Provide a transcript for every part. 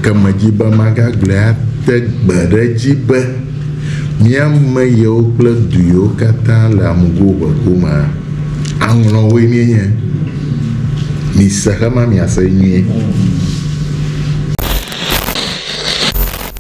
Gake medi be magagblɔe ate gbe ɖe edzi be mía ame yewo kple du yewo katã le amugo ʋe gomea, aŋlɔwoe míenye. Mise ema miase nyuie.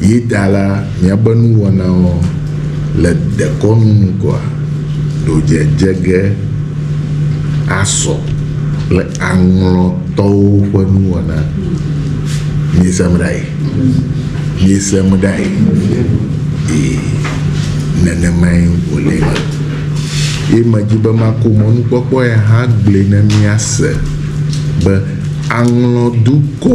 Yi ta la, míaƒe nuwɔnawo le dekɔnu nu koa? Ɖo dzedze ge asɔ kple aŋlɔtɔwo ƒe nuwɔna. Miesem ɖae? Miesem ɖae? Ee, nenemae wòle ema. Ye medi be mako mɔnukpɔkpɔ ya hã gblɔe ne míase be aŋlɔdukɔ,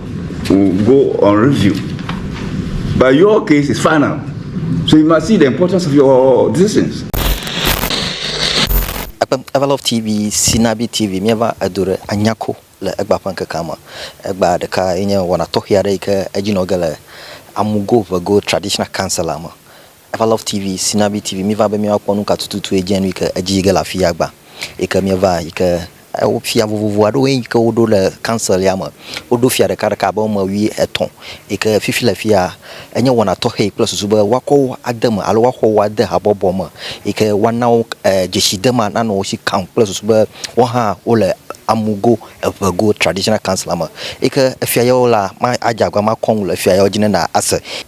will go on review. But your case is final. So you must see the importance of your decisions. Everlove TV, Sinabi TV, míeva edu ɖe anyako le egba ƒe ŋkekea me. Egba ɖeka enye wɔna tɔxɛ aɖe yi ke edzinɔ ge le Amugo Vego Traditional Council la me. Eva love TV sinabi TV miva be miawa kpɔ nuka tututu ye djenu yike edji yige le afiya agba yike mieva yike ewo fia vovovo aɖewo ye yike woɖo le council ya me woɖo fia ɖeka ɖeka abe ame wui etɔ yike fifi le fiya enye wɔna tɔxɛ kple susu be woakɔ wo ade eme alo woaxɔ wo ade habɔbɔ me yike woana wo dzesi de ema nanɔ wo si kaŋ kple susu be woaha wole amugo eʋe go traditional council la me yike efia yewo la ma adze abe makɔ nu le efia yewo dji ne na ase.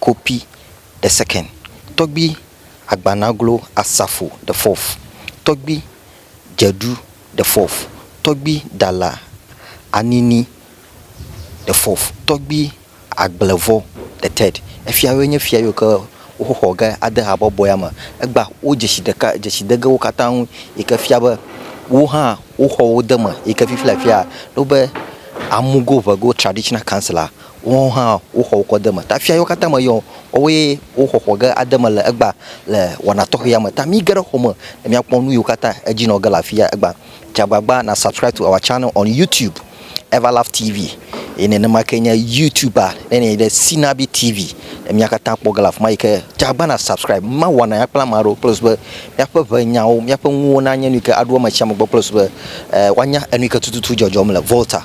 copy the second tɔgbi agbanaglo asafo the fourth tɔgbi dzeɖu the fourth tɔgbi dala anini the fourth tɔgbi agblevɔ the third efia woe nye fia yiwo ke woxɔ ge ade habɔbɔa me egba wo dzesi ɖeka dzesi de ge wo katã ŋu yi ke fia be wo hã woxɔ wo de eme yi ke fifia fia wobe amugo ʋego traditional council la Woawo hã woxɔ wokɔ de eme. Ta fia yewo katã me yɔ woawoe woxɔ xɔ ge ade eme le egbea le wɔna tɔxɛ ya me. Ta mi ge ɖe xɔ me ne mia kpɔ nuyiwo katã edzi nɔ ge le afia egbea. Dze agbagba na subscribe to our channel on YouTube Everlaugh TV eye nenema ke nye YouTube ne nɛ ɖe Sinabi TV ne mia katã kpɔ ge le afima yike dze agbagba na subscribe mi ma wɔna ya kple ame aɖewo kple sube miaƒe ʋe nyawo miaƒe nuwo na nye nuyike aɖo ame sia ame gbɔ kple sube woanya enuyike tututu dzɔdzɔm le Volta.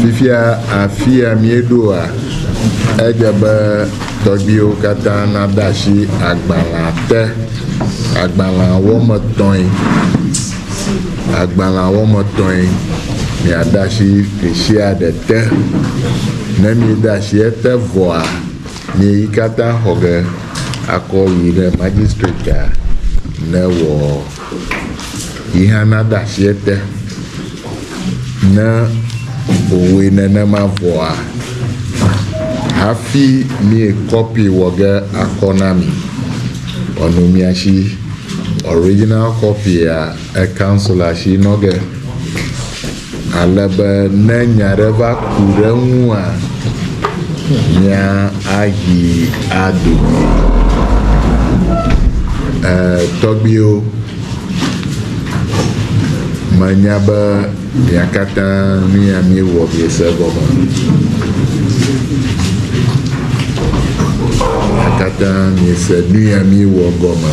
Fifia afia míeɖoa, edze be tɔgbuiwo katã nade asi agbalẽa te. Agbalẽa wɔme etɔ̃e, agbalẽa wɔme etɔ̃e. Miade asi ɖe sia ɖe te. Ne miede asi ete vɔa, mi katã xɔ ge akɔ yi ɖe magistratea ne wɔ. yi hã nade asi ete. Ne wòwɔe nenema vɔa, hafi míekɔpi wɔ ge akɔ na mi. Vɔ nɔ mia si ɔriginal kɔpia ekansila si nɔ ge. Ale be ne nya aɖe va ku ɖe eŋua, mía ahi ado goe. E, tɔgbiwo, menya be mia katã nu ya miewɔ miese egɔme. Mia katã miese nu ya miewɔ gɔme.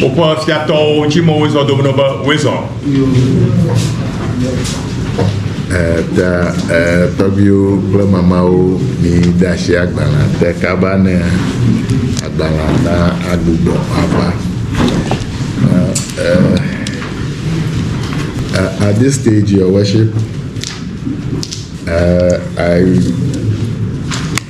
Woƒe fiatɔwo tsi mɔ wozɔ do be wozɔ. Ta tɔgbiwo kple mamawo mi de asi agbalẽ te kaba ne agbalẽ na agbugbɔ ava. Uh, at this stage, your worship, uh, I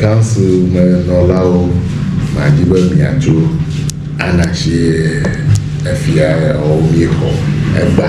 Council me nɔlawo ma dzi be mia tso anarchy efia ɔ mie xɔ egba.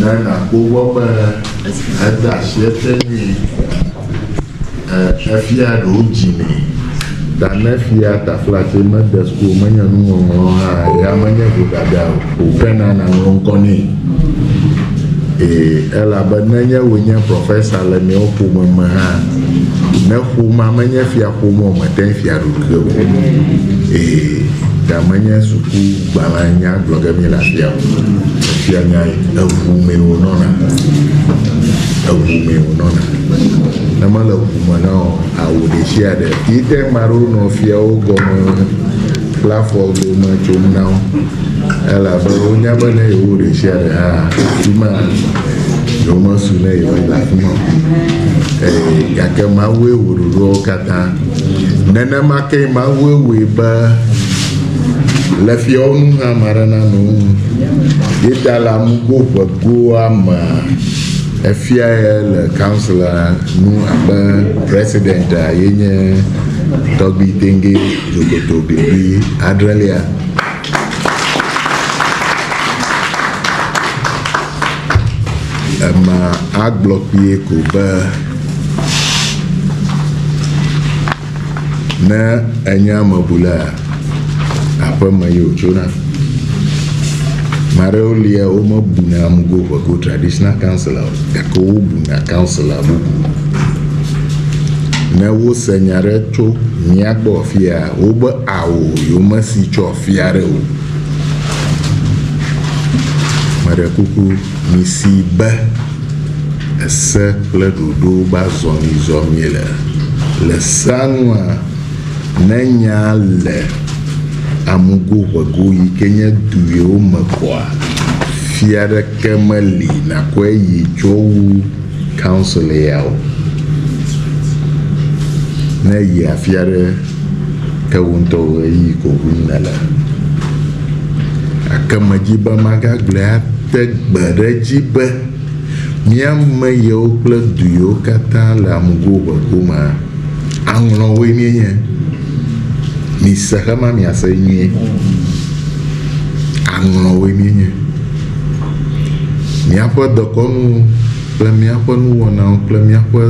Ne nàkpɔ gbɔ be ede asi ete nyuie, e, efia ɖewo dzinɛ. Da ne fia taflatse mede sukulu menye nuŋɔŋlɔ hã ya menye vodada o ke na naŋlɔ ŋkɔ nɛ. Ee, elabe nenye wòe nye profesa le miawo ƒome me hã, ne ƒomea menye fiaƒome o, mète ŋu fia ɖoɖoɖe o. Ee, da menye suku Gbalẽa nya gblɔ ge míele afia o. Fia nyae, eŋu mee wònɔna. Eŋu mee wònɔna. Ne mele ŋu me na wò o, awu ɖeshiaɖe yi te ŋu maɖo nɔ fiawo gɔme kple afɔ dome tsom na wo. Elabe wonya be ne yewowu ɖeshiaɖe hã, afi ma yewomesu ne yewoe le afi ma o. Eye gake Mawue wɔ ɖoɖoawo katã. Nenema kee Mawue wɔe be Le fiawo nu hã ame aɖe nanɔ wo nu. Ye ta le amugo ʋegoa mea, efia ye le kansela nu abe presidentia ye nye tɔgbi tenge dzokoto bibi adrelia. Ema agblɔ kpuie ko be. Ne enye amebulea, aƒeme ye wòtsona. Ame aɖewo lia womebuna amugo ƒe ko traditional councillor o gake wobuna councillor bubu. Ne wose nya aɖe tso mía gbɔ afi ya wobe ao yewomesi tso afi aɖe o. Meɖe kuku. Misi be ese kple ɖoɖo gbazɔmizɔmi le. Le sea nua, ne nya le amugo ʋego yi ke nye duyewo me koa, fia aɖeke meli nàkɔe yi tsɔ wu council ya o. Ne èyia fia ɖe. ke wò ŋutɔ wò ɣeyiɣi ko ʋlim nèle. Gake medi be magagblɔe ate gbe ɖe edzi be mía ame yewo kple du yewo katã le amugoʋeʋu mea, aŋlɔwoe míenye. Mise xe ma miase nyuie. Aŋlɔwoe míenye. Míaƒe dekɔnu kple míaƒe nuwɔnawo kple míaƒe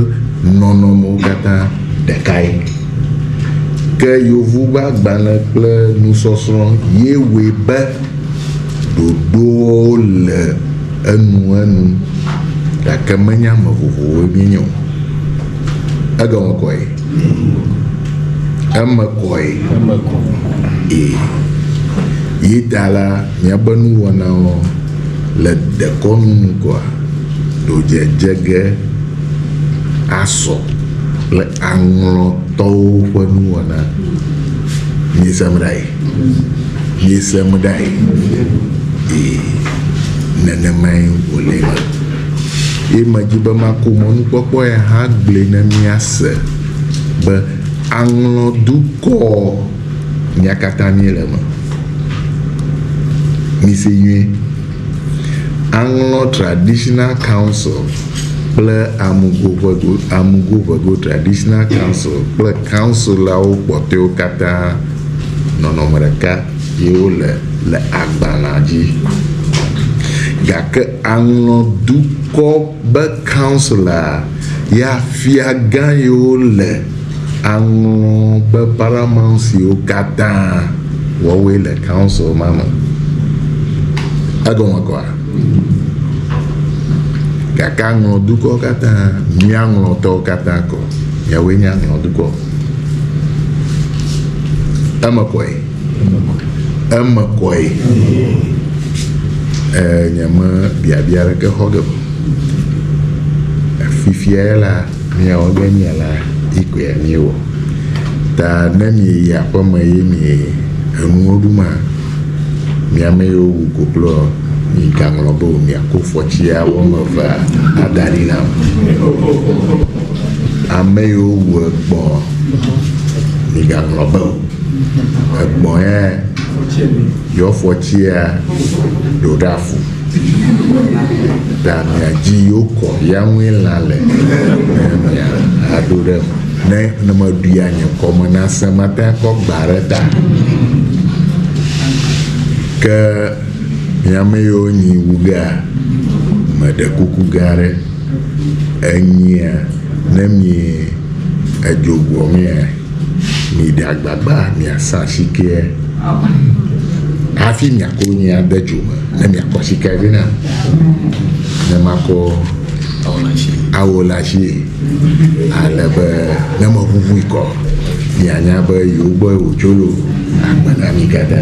nɔnɔmewo katã. ɖekae. Ke Yovu ƒe agbalẽ kple nusɔsrɔ̃ ye wɔe be ɖoɖoawo le enuenu, gake menye ame vovovowoe míenye o. Egɔme kɔe? Eme kɔe. Eme kɔ. Ee. Yi ta la, míaƒe nuwɔnawo le dekɔnu ŋgɔa ɖodzedze ge. asɔ kple aŋlɔtɔwo ƒe nuwɔna. Miesem ɖae? Miesem ɖae? Ee, nenemae wòle ema. Ye medi be makɔ mɔnukpɔkpɔ ya hã gblɔe ne miase be aŋlɔ dukɔ mía katã míele eme. Mise nyuie. Aŋlɔ Traditional Council. kple AmugoʋegoAmugoʋeGo Traditional Council kple council-awo kpɔtɔɛwo katã nɔnɔme ɖeka ye wo le le agbalẽa dzi. Gake aŋlɔ dukɔ be council-a ya fiagã ye wo le aŋlɔ be paramount-siwo katã wɔwoe le council-ma me. Egɔme kɔa? Gake aŋlɔ dukɔ katã, mía ŋlɔtɔwo katã kɔ. Yewɔe nye aŋlɔ dukɔ. Eme kɔe. Eme kɔe. Ee, nyeme biabia ɖeke xɔ ge o. Fifia la, Miewɔ be mialã yi koe miewɔ. Ta ne mieyi aƒeme ye mie enuwo ɖu ma, mi ame yiwo wu kokloa, migaŋlɔ be o, miako fɔtsia wo ame evea ada ɖi nam. Ame yiwo wu egbɔ̃, migaŋlɔ be o. Egbɔ̃ ya, yewo fɔtsia ɖo ɖe afu. Ɖa mia dzi yo kɔ ya ŋue lã le ne mia aɖo ɖe ne ne meɖuia nye ŋkɔ me na se mate akpɔ gba ɖe ta. Ke miame yo nyi wugea meɖe kuku gã ɖe enyia ne mi edzogbɔ mea. Miɖe agbagba miasa asikea hafi miakɔ nyi ade dzo me ne miakɔ asikea vɛ nam ne makɔ awɔ le asi ale be ne meʋuʋui kɔ mianya be yewo gbɔ wòtso lo agbe na mi gada.